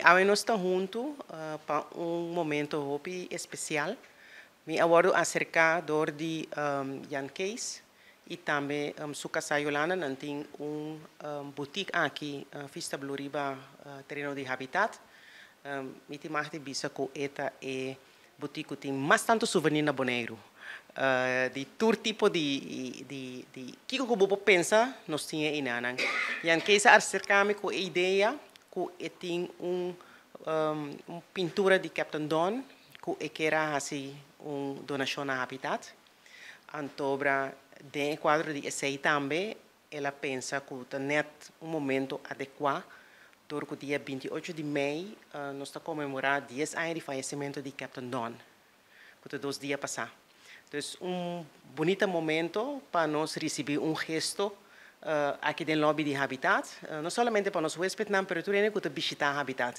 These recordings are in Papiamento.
Awe nos ta huntu pa un momento hopi especial. Mi a wordo acerca door di Jan Kees y tambe su casa Yolanda. Nan tin un boutique aki Vista Blue riba tereno di Habitat. Mi tin mag di bisa cu e ta e. Butik cu tin mas tanto souvenir na Boneiru. Di tur tipo di di kico cu bo por pensa nos tin e inanan. Jan Kees a acerca mi cu e idea cu e tin un un pintura di Captain Don cu e kier a haci un donacion na Habitat. Antobra den e cuadro di esey tambe El a pensa ku ta nèt un momentu adekuá dor ku dia binti i ocho di mei nos ta konmemorá dies aña di fayesementu di Captain Don, ku ta dos dia pasá. Dus un bunita momento pa nos risibí un gesto aki den lòbi di Habitat, no sòlamente pa nos huéspetnan pero tur hende ku ta bishitá Habitat.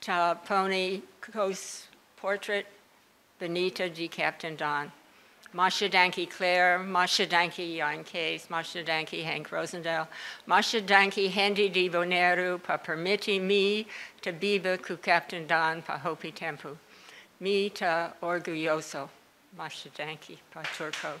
Ta pone koos portret benita di Captain Don. Masha danki Claire, masha danki Jan Kees, masha danki Henk Rosendale, masha danki hende di Boneiru pa permiti mi ta biba ku Captain Don pa hopi tempu. Mi ta orguyoso. Masha danki pa tur koos.